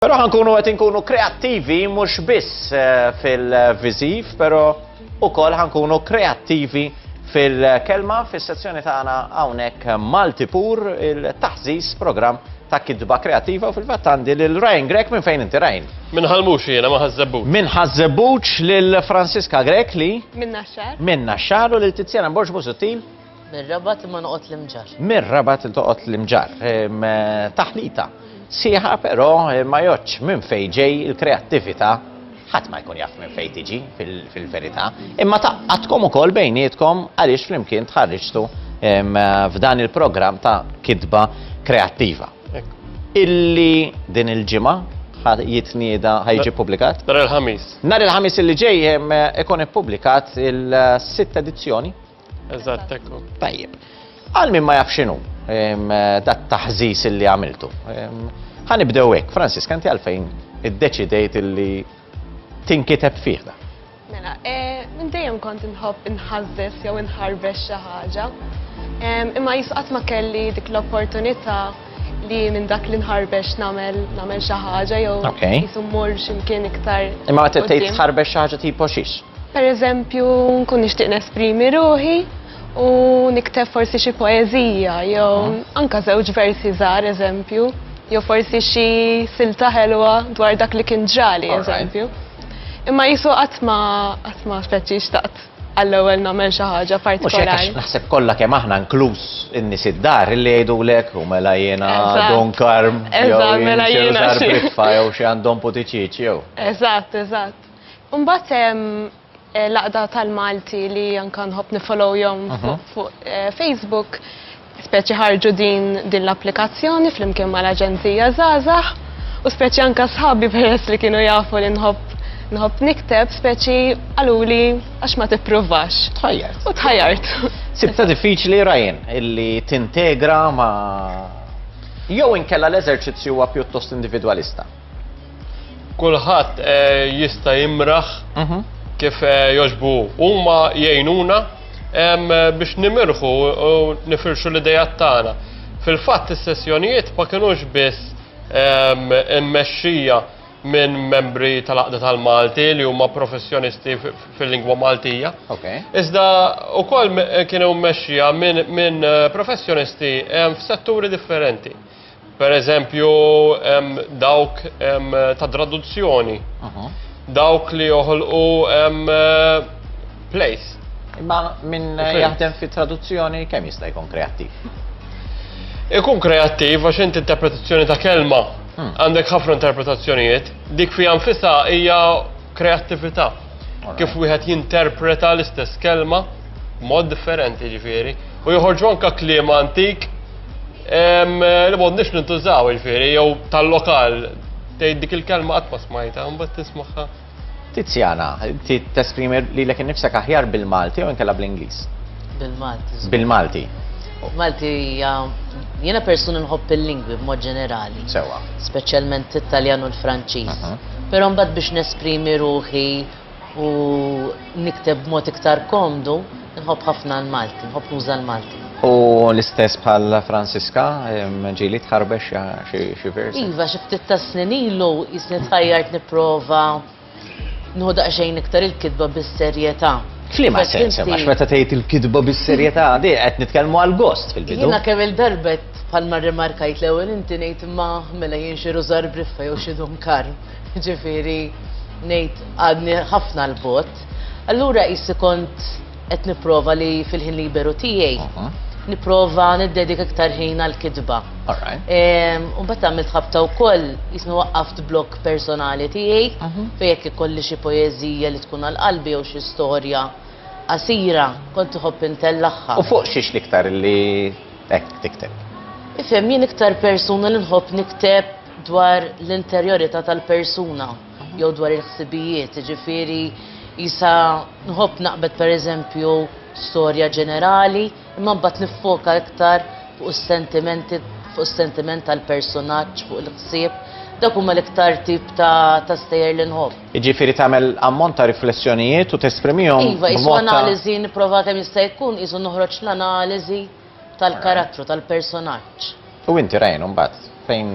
Però ħankunu qed inkunu kreattivi mhux biss eh, fil-viżiv, però ukoll ħankunu kreattivi fil-kelma fis-sezzjoni tagħna hawnhekk Malti Pur il-taħżis programm ta' kidba kreativa u fil-fatt għandi lil Ryan Grek minn fejn inti Ryan. Minn ħalmux jiena ma ħażżebbuċ. Minn ħażżebbuċ lil Franziska Grek li. Minn Naxxar. Minn Naxxar u lil Tiziana Borġ Musuttil. Mir-Rabat imma noqgħod l-Imġar. Mir-Rabat il toqgħod l-Imġar. Taħlita sieħa però ma joċ minn fejn ġej il-kreattività ħadd ma jkun jaf minn fejn tiġi fil-verità. Imma taqqatkom ukoll bejnietkom għaliex flimkien tħarriġtu f'dan il-programm ta' kitba kreattiva. Illi din il-ġimgħa jitnieda ħajġi publikat? Nar il-ħamis. Nar il-ħamis illi ġej ikun ippubblikat il-sitt edizzjoni Eżatt, ekku. Tajjeb. Għal min ma jaf x'inhu dat taħżis li għamiltu. Ħanibdew hekk, Francis, kanti għalfejn iddeċidejt li tinkiteb fih da. Mela, eh, minn dejjem kont inħobb inħażżes jew inħarbex xi ħaġa. Imma jisqat ma kelli dik l-opportunità li minn dak li nħarbex nagħmel nagħmel xi ħaġa jew jisu mmur x'imkien iktar. Imma meta tgħid tħarbex xi ħaġa tipo xiex? Pereżempju nkun nixtieq nesprimi ruħi u nikteb forsi xi poeżija jew mhm. anka żewġ versi żgħar eżempju jew forsi xi silta ħelwa dwar dak li kien ġrali eżempju. Imma jisu qatt ma qatt ma speċi xtaqt għall-ewwel nagħmel xi ħaġa partikolari. Mhux hekk naħseb kollha kemm aħna inkluż in-nies id-dar li jgħidulek u mela jiena Don Karm jew mela jiena Britfa jew xi għandhom putiċiċ jew. Eżatt, eżatt. Imbagħad hemm eh, laqda tal-Malti li anke nħobb nifollow jom mhm. fuq eh, Facebook Speċi ħarġu din din l-applikazzjoni flimkien mal-Aġenzija Żgħażagħ u speċi anke sħabi peress li kienu jafu li nħobb nħobb nikteb speċi qaluli għax ma tippruvax. Tħajjart. U tħajjart. Sibta diffiċli rajn illi tintegra ma' jew inkella l-eżerċizzju huwa pjuttost individwalista. Kulħadd eh, jista' jimraħ mhm. kif eh, joġbu huma jgħinuna biex nimirħu u nifirxu l-idejat tagħna. Fil-fatt is-sessjonijiet ma kinux biss immexxija minn membri tal-Aqda tal-Malti li huma professjonisti fil-lingwa Maltija. Iżda wkoll kienu mmexxija minn eh, professjonisti f'setturi differenti. Per eżempju, dawk ta' traduzzjoni, dawk li joħolqu plays. Imma minn jaħdem fi traduzzjoni kemm jista' jkun kreattiv? Ikun kreattiv għax inti interpretazzjoni ta' kelma hmm. għandek ħafna interpretazzjonijiet, dik fija nfisa hija kreattività. Kif wieħed jinterpreta l-istess kelma mod differenti ġifieri. U joħorġu anka kliem antik li m'għodniex nintużaw ġifieri jew tal-lokal tgħid dik il-kelma qatt ma smajta, mbagħad tismaħħa. Tiziana, ti tesprimi li l-ek nifsek aħjar bil-Malti u nkella bl-Inglis? Bil-Malti. Bil-Malti. Malti, jena persuni nħobb il-lingwi b'mod ġenerali. Sewa. Speċjalment it-Taljan u l-Franċiż. Mhm. Però mbagħad biex nesprimi ruħi u nikteb b'mod iktar komdu, nħobb ħafna l-Malti, nħobb nuża l-Malti. U l-istess bħal Franziska, ġili tħarbex xi versi? Iva, xi ftit ta' snin ilu jisni tħajjart nipprova nħoda xejn iktar il-kitba bis-serjetà. Flima sens, għax meta tgħid il-kitba bis-serjetà, di qed nitkellmu għal gost fil-bidu. Jiena kemm il-darba Bħalma rrimarkajt l-ewwel inti ngħid imma mela jien xi rużar briffa jew xi dunkar. Ġifieri ngħid għadni ħafna 'l bogħod. Allura qisi kont qed nipprova li fil-ħin liberu tiegħi nipprova niddedika iktar ħin għall-kitba. U mbagħad għamilt ħabta wkoll qisni waqqaft blog personali tiegħi fejn jekk ikolli xi poeżija li tkun għal qalbi jew xi storja qasira kont iħobb intellagħha. U fuq xiex l-iktar li Hekk tikteb. Ifhem, jien iktar persuna li nħobb nikteb dwar l-interjorità tal-persuna jew dwar il-ħsibijiet, jiġifieri jisa nħobb naqbed pereżempju storja ġenerali, imma mbagħad niffoka iktar fuq is-sentimenti, fuq is-sentiment tal-personaġġ, fuq il-ħsieb. Dak huma l-iktar tip ta' ta' stejjer li nħobb. Jiġifieri tagħmel ammont ta' riflessjonijiet u tesprimihom b'mod ta'. Iva, qisu analiżi nipprova kemm jista' jkun qisu noħroġ l-analiżi tal-karattru, tal-personaġġ. U inti Ryan imbagħad fejn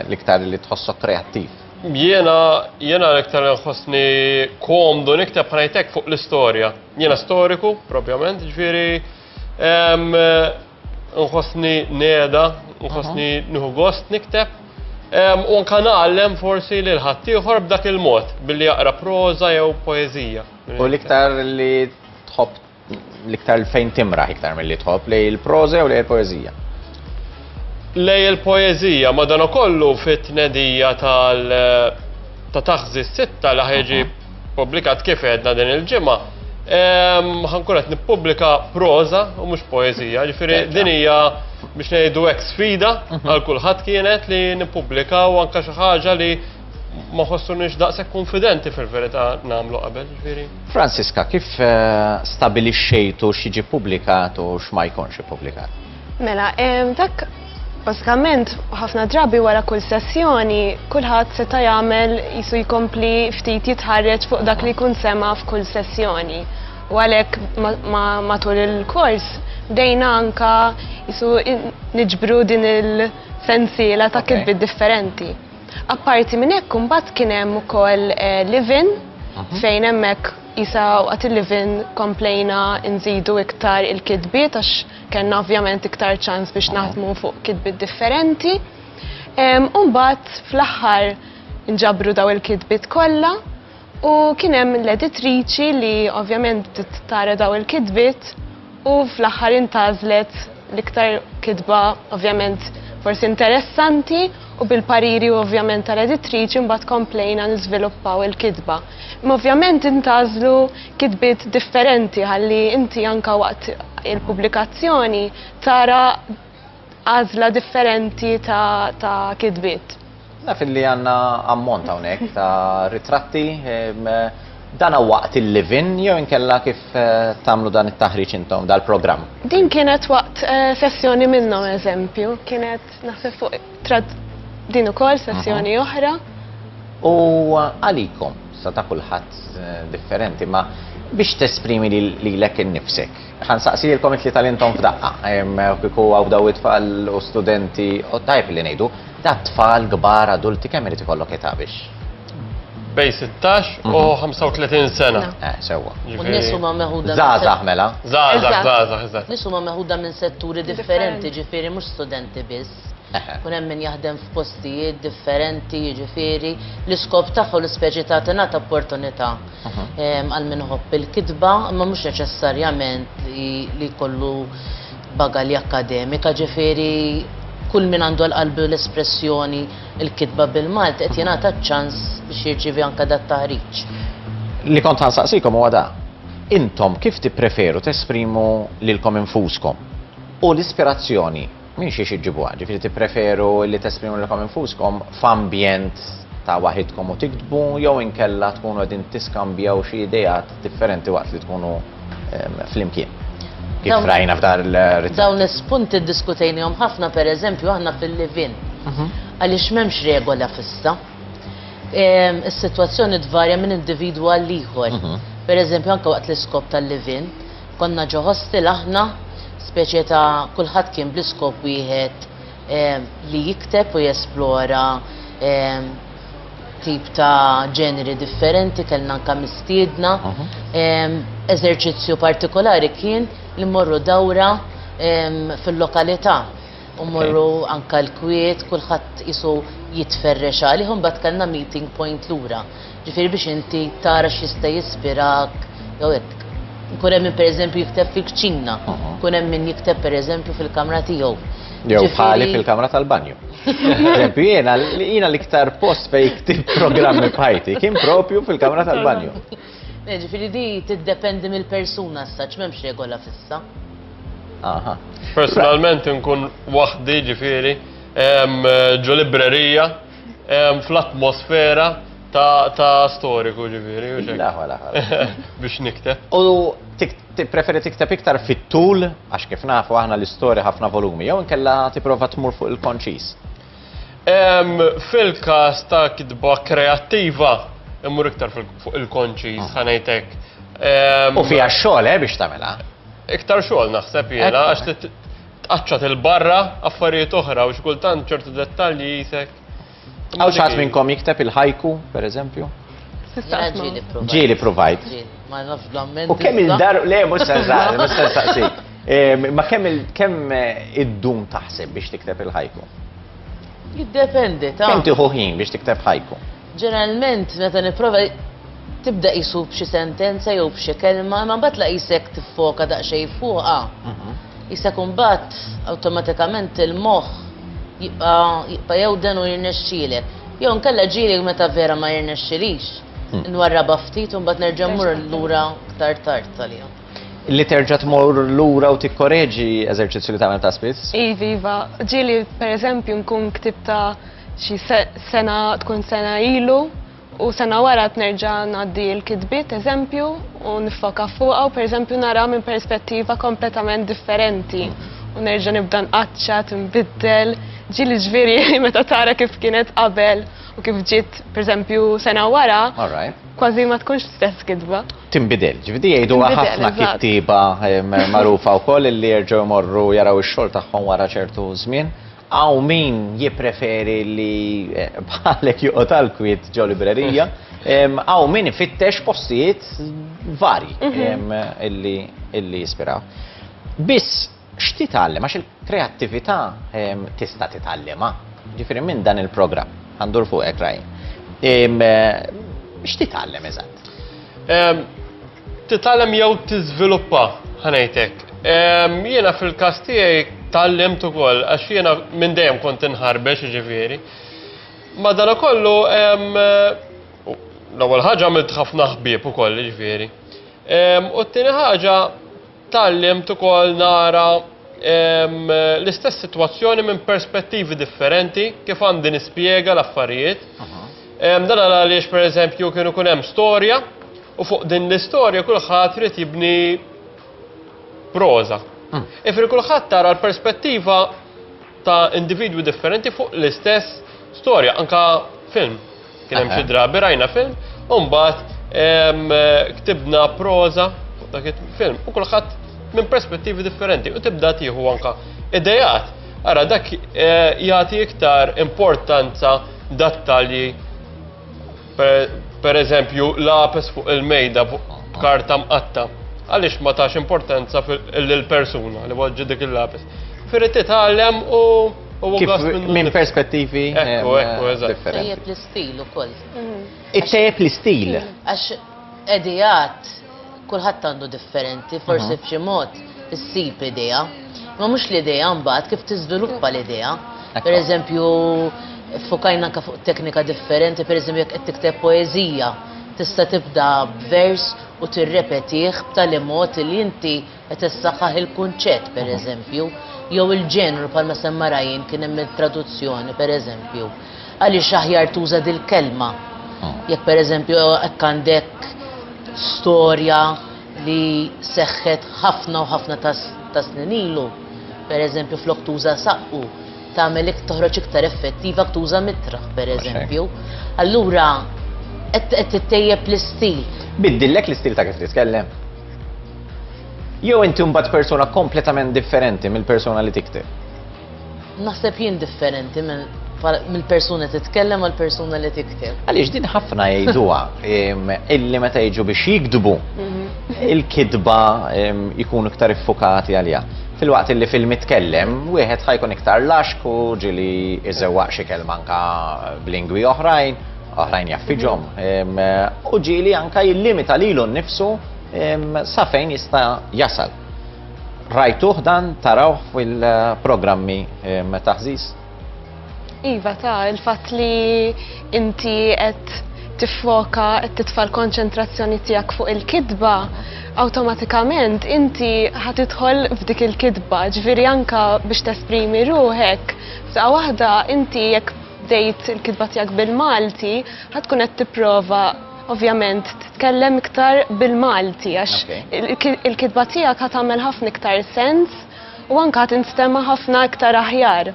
l-iktar li tħossok kreattiv? Jiena, jiena l-iktar li nħossni komdu nikteb ħa ngħidlek fuq l-istorja. Jiena storiku propjament, jiġifieri Nħossni neda, nħossni nieħu gost nikteb. U anka nagħallem forsi lil ħaddieħor b'dak il-mod, billi jaqra proża jew poeżija. U l-iktar li tħobb l-iktar fejn timraħ iktar mill-li tħobb lej il-proża jew lej il-poeżija? Lej il-poeżija, madanakollu fit-tnedija tal- ta' taħżi s-sitta li ħeġib Pubblikat kif għedna din il-ġimgħa, ħankun qed nippubblika proża u mhux poeżija, ġifieri din hija biex ngħidu hekk sfida mhm. għal kulħadd kienet li nippubblikaw anke xi ħaġa li ma ħossunix daqshekk konfidenti fil-verità nagħmlu qabel, ġifieri. Franziska, kif eh, stabilixxejtu x'jiġi pubblikat u x'ma jkunx ippubblikat? Mela, dak basikament ħafna drabi wara kull sessjoni kulħadd seta' jagħmel jisu jkompli ftit jitħarreġ fuq dak li jkun sema' f'kull sessjoni. U għalhekk matul il-kors bdejna anka jisu niġbru din il-sensiela ta' kitbi differenti. Apparti minn hekk imbagħad kien hemm ukoll live-in fejn hemmhekk jisa waqt il-live-in komplejna nżidu iktar il-kitbiet għax Kellna ovvjament iktar ċans biex naħdmu fuq kitbiet differenti. U mbagħad fl-aħħar nġabru daw il-kitbiet kollha u kien hemm l-editriċi li ovvjament tara daw il-kitbiet u fl-aħħar intażlet l-iktar kitba ovvjament forsi interessanti u bil-pariri u ovvjament tal-editriċi mbagħad komplejna niżviluppaw il-kitba. Imma ovvjament intażlu kitbiet differenti ħalli inti anka waqt il-pubblikazzjoni tara għażla differenti ta', ta kitbiet. Naf li għandna ammont hawnhekk ta' ritratti ehm, dana waqt il-livin jew inkella kif eh, tamlu dan it-taħriġ intom dal-programm? Din kienet waqt eh, sessjoni minnhom eżempju, kienet Naħseb fuq trad din ukoll sessjoni oħra. U għalikom, sa ta' kulħadd eh, differenti, ma biex tesprimi li l-ek nifsek. Għan saqsi li l-komit li tal-intom f'daqqa, kiku għaw daw it-tfal u studenti, u tajb li nejdu, ta' tfal, gbar, adulti, kemm irrit ikollok età biex? bej 16 u 35 mhm. sena. Eh, sewa. U nisu ma meħuda. Zaza, mela. Zaza, zaza, zaza. Nisu ma meħuda minn setturi differenti, ġifiri, mux studenti biss. Kun hemm min jaħdem f'postijiet differenti, ġifiri, l-iskop tagħha l-ispeċi ta' tingħata opportunità mhm. ehm, għal min ħobb il-kitba, ma mhux neċessarjament li kollu bagalja akademika, ġifiri, kull min għandu l-qalbu l-espressjoni il-kitba bil-Malti qed jingħata ċ-ċans biex jirċievi anke dat taħriġ. Li kont ħansaqsikom huwa da. Intom kif tippreferu tesprimu lilkom infuskom? U l-ispirazzjoni minn xiex iġġibuha, ġifieri tippreferu li tesprimu lilkom infuskom f'ambjent ta' waħidkom u tiktbu jew inkella tkunu qegħdin tiskambjaw xi ideat differenti waqt li tkunu flimkien. Kif rajna f'dar il-rizzett. Dawn l-spunti diskutejnihom ħafna per eżempju aħna fil-livin. Mhm. Għaliex m'hemmx regola fissa. Is-sitwazzjoni tvarja minn individwu għal ieħor. Mhm. Per eżempju anke waqt l-iskop tal-livin, konna ġo hostel aħna speċi ta' kulħadd kien bl-iskop wieħed li jikteb u jesplora tip ta' ġeneri differenti, kellna anka mistiedna. Eżerċizzju partikolari kien li mmorru dawra fil-lokalità u mmorru anka l-kwiet, kulħadd qisu jitferrex għalih u mbagħad kellna meeting point lura. Ġifieri biex inti tara x'jista' jispirak jew hekk. Ikun hemm min pereżempju jikteb fil-kċina, ikun hemm min jikteb pereżempju fil-kamra tiegħu. Jew Ġifieri- bħali fil-kamra tal-banju. Eżempju, jiena jiena l-iktar post fej ktib programmi bħajti kien propju fil-kamra tal-banju. Eh, Ġifieri di tiddependi mill-persuna s-saċ m'hemmx regola fissa. Aha. Personalment nkun waħdi ġifiri em, ġo librerija em, fl-atmosfera ta' ta' storiku ġifiri. u xek. Laħwa, laħwa. Biex nikteb. U tik Tippreferi tikteb iktar fit-tul, għax kif nafu aħna l-istorja ħafna volumi, jew inkella tipprova tmur fuq il-konċis? Fil-każ ta' kitba kreattiva, immur iktar fuq il-konċis, mm. ħanajtek. U fija xogħol eh, biex tagħmilha? Iktar xogħol naħseb jiena għax tqaċċat il-barra affarijiet oħra u xkultant ċertu dettalji jisek Għaw xaħat minnkom jikteb il-ħajku, per eżempju? Ġili provajt. U kemm il-dar, le, mux senżar, mux senżaqsi. Ma kemm eh, id-dum taħseb biex tikteb il-ħajku? Jiddependi, ta' Kemm tiħu ħin biex tikteb ħajku? Ġeneralment, meta niprofa tibda jisu b'xi sentenza jew b'xi kelma, ma mbagħad la jisek tiffoka daqsxejn fuqha. Mhm. Jista' jkun mbagħad awtomatikament il-moħħ jibqa' jibqa' jewden u jirnexxielek. Jew inkella ġieli meta vera ma jirnexxilix. Nwarrabha ftit u mbagħad nerġa' mmur lura aktar tard għaliha. Li terġa' tmur lura u tikkoreġi eżerċizzju li tagħmel ta' spiss? Iv, iva. Ġieli pereżempju nkun ktibt ta' xi sena tkun sena ilu U sena wara qed nerġa' ngħaddi l-kitbiet eżempju u niffoka fuqha u pereżempju nara minn perspettiva kompletament differenti u nerġa' nibda nqaċċa, tinbiddel, ġieli ġifieri meta tara kif kienet qabel u kif ġiet pereżempju sena wara, kważi ma tkunx l-istess kitba. Tinbidel, ġifieri jgħiduha ħafna kittieba magħrufa wkoll li jerġgħu jmorru jaraw ix-xogħol tagħhom wara ċertu żmien. Hawn min jippreferi li bħalek joqgħod għall-kwiet ġo librerija, hawn min ifittex postijiet varji mhm. illi jispiraw. Biss x'titgħallem għax il-kreattività tista' titgħallimha. Ġifieri minn dan il-programm għandur fuqek raj. X'titgħallem eżatt? Titgħallem jew tiżviluppa, ħa ngħid hekk. Jiena fil-każ tiegħi tgħallimt ukoll għax jiena minn dejjem kont inħarbex jiġifieri. Madankollu l-ewwel ħaġa għamilt ħafna ħbieb ukoll jiġifieri. U t-tieni ħaġa Tgħallimt ukoll nara l-istess sitwazzjoni minn perspettivi differenti kif għandi nispjega l-affarijiet. Dan għaliex pereżempju kienu kun hemm storja u fuq din l-istorja kulħadd trid jibni proża. Mm. Ifri kulħadd tara l-perspettiva ta' individwi differenti fuq l-istess storja, anka film. Kien hemm xi drabi rajna film, u mbagħad ktibna proża dak il-film u kulħadd minn perspettivi differenti u tibda tieħu anka idejat. Ara dak eh, jagħti iktar importanza dattalji per eżempju lapes fuq il-mejda fuq karta mqatta. Għaliex ma tax importanza lill-persuna li waġġi dik il-lapes. Firri titgħallem u Minn perspettivi differenti. l-istil u koll. Ittejjeb l-istil. Għax edijat kullħat għandu differenti, forse f'xi mod issib idea. Ma mhux l-idea mbagħad kif tiżviluppa l-idea. Per eżempju, fukajna anke fuq teknika differenti, per eżempju jekk qed tikteb poeżija, tista' tibda b'vers u tirrepetih b'tali mod li inti qed issaħħaħ il-kunċett pereżempju, jew il-ġenru bħalma semma Ryan kien hemm il-traduzzjoni pereżempju. Għaliex aħjar tuża dil-kelma. Ah. Jekk pereżempju hekk għandek storja li seħħet ħafna u ħafna ta' snin ilu, pereżempju flok tuża saqqu, tagħmel iktar toħroġ iktar effettiva tuża mitraħ pereżempju. Allura qed tittejjeb l-istil. Biddillek l-istil ta' kif titkellem? Jew inti mbagħad persuna kompletament differenti mill-persuna li tikteb? Naħseb jien differenti minn mill-persuna titkellem għal persuna li tikteb. Għaliex din ħafna jgħiduha illi meta jiġu biex jikdbu mhm. il-kidba jkunu iktar iffukati għalija. Fil-waqt illi fil-mitkellem, wieħed ħajkun iktar laxku ġili iżewwaq xi kelma anka b'lingwi oħrajn, oħrajn jaffiġhom u ġieli anka jillimita lilu nnifsu sa fejn jista' jasal. Rajtuh dan tarawh fil-programmi taħżiż? Iva ta' il-fatt li inti qed tiffoka qed titfa' l-konċentrazzjoni tiegħek fuq il-kitba, awtomatikament inti ħad tidħol f'dik il-kitba, ġifieri anka biex tesprimi ruħek, f'daqqa waħda inti jekk bdejt il-kitba tiegħek bil-Malti, ħad tkun qed tipprova ovvjament titkellem iktar bil-Malti għax il-kitba tiegħek ħad tagħmel ħafna iktar sens u anke ħad instema' ħafna iktar aħjar.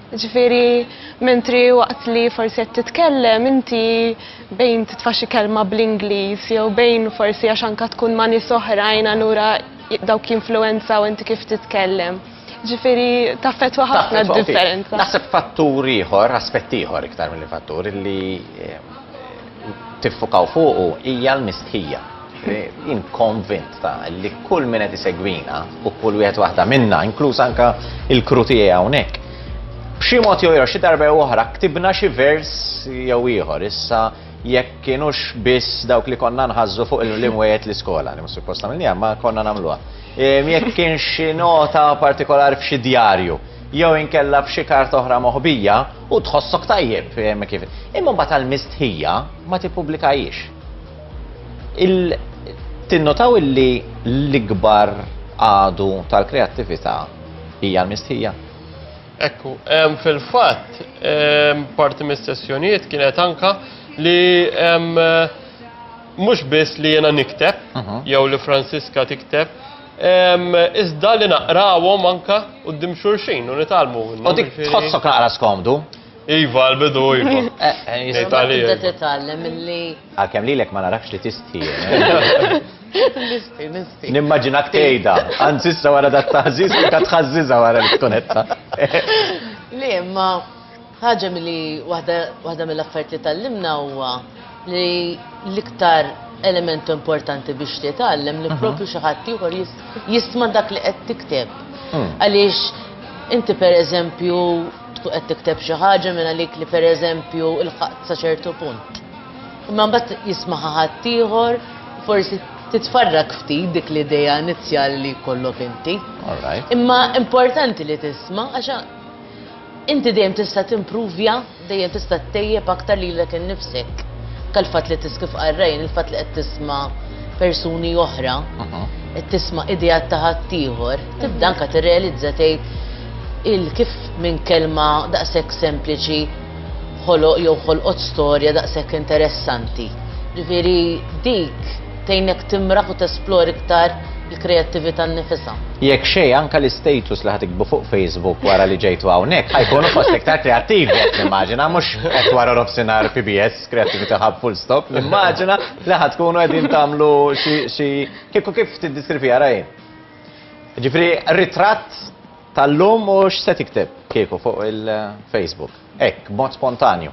Ġifieri mentri waqt li forsi qed titkellem inti bejn titfa' xi kelma bl-Ingliż jew bejn forsi għax anke tkun ma' nies oħrajn allura dawk jinfluwenzaw inti kif titkellem. Ġifiri, taffetwa ħafna differenza. Naħseb fattur ieħor, aspett ieħor iktar mill fattur li eh, tiffukaw fuqu hija l-mistħija. Eh, jien konvint ta' li kull minn qed isegwina u kull wieħed waħda minna, inkluż anka il-kru tiegħi hawnhekk. B'xi mod jew xi darba oħra ktibna xi vers jew ieħor issa jekk kienux biss dawk li konna nħazzu fuq il-limwiet l-iskola, li mus suppost għamilni, ma konna namluha. Jekk kien xi nota partikolari f'xi djarju jew inkella f'xi kart oħra moħbija u tħossok tajjeb eh, kif. Imma mbagħad għal mistħija ma tippubblikajiex. Tinnotaw illi l-ikbar għadu tal-kreattività hija l-mistħija. Ekku, fil-fatt, parti mis-sessjonijiet kienet anka li Mhux biss li jiena nikteb, jew li Franziska tikteb, iżda li naqrawhom anke quddiem xulxin u nitgħallmu minnhom. U dik tħossok naqra skomdu? Iva, l-bidu iva. Eh, eh, jista' li. Tibda titgħallem milli. Għalkemm lilek ma narafx li tisti. Eh. Nimmaġinak tgħidha, anzi issa wara dat taħżiż li kat tħażżiżha wara l-kunetta. Le, ma Ħaġa milli waħda waħda mill-affarijiet li tgħallimna huwa li l-iktar element importanti biex titgħallem li propju xi ħadd ieħor jisma' dak li qed tikteb. Għaliex inti pereżempju tkun qed tikteb xi ħaġa minn għalik li pereżempju ilħaqt sa ċertu punt. Imma mbagħad jismaha ħadd ieħor, forsi titfarrak ftit dik l-idea inizjali li jkollok inti. Imma importanti li tisma' għax Inti dejjem tista' timpruvja, dejjem tista' ttejjeb aktar lilek innifsek. Anke l-fatt li tiski f'qarrejn, il-fatt li qed tisma' persuni oħra, qed tisma' ideat ta' ħaddieħor, tibda anke tirrealizza tgħid il kif minn kelma daqshekk sempliċi ħoloq jew ħolqot storja daqshekk interessanti. Ġifieri dik tgħinek timraħ u tesplori iktar il-kreattività nnifisha. Jekk xejn anke l-istatus li ħa tiktbu fuq Facebook wara li ġejtu hawnhekk ħajkunu fost l-iktar kreattivi qed nimmaġina mhux qed wara nofsinhar PBS Creativity Hub full stop nimmaġina li ħa tkunu qegħdin tagħmlu xi kieku kif tiddiskrivija rajn. Ġifri ritratt tal-lum u x'se tikteb kieku fuq il-Facebook. Hekk, mod spontanju.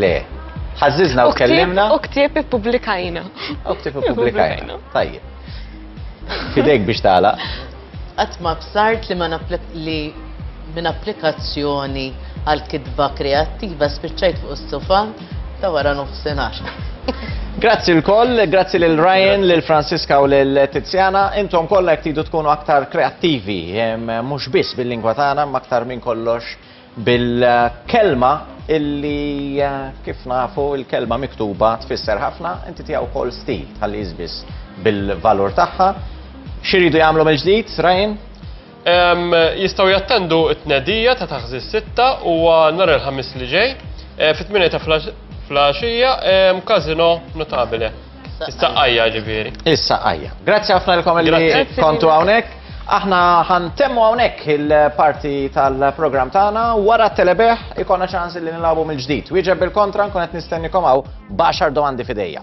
Le, ħażiżna u tkellimna. U ktieb ippubblikajna. U ktieb ippubblikajna. Tajjeb. Fidejk biex tala. Qatt ma bsart li ma li minn applikazzjoni għal kitba kreattiva spiċċajt fuq is-sofa ta' wara nofsinhar. Grazzi l-koll, grazzi lil Ryan, lil Franziska u lil Tiziana. Intom kollha jekk tkunu aktar kreattivi, mhux biss bil-lingwa tagħna, ma aktar minn kollox Bil-kelma illi kif nafu il-kelma miktuba tfisser ħafna, inti tiegħu wkoll stil tħalli jiżbiż bil-valur tagħha. Xi jridu jagħmlu mill-ġdid, Ryan? Jistgħu jattendu t-tnedija ta' taħżi sitta u nhar il-Ħamis li ġej fit-tminja ta' flaxija Casino Notabile. Is-saqqajja ġifieri. Is-saqqajja. Grazzi ħafna lkom li kontu hawnhekk. Aħna ħantemmu hawnhekk il-parti tal-programm tagħna wara t-telebeħ ikonna ċans li nilagħbu mill-ġdid. Wieġeb bil-kontra nkun qed nistennikom hawn baxar domandi fidejja.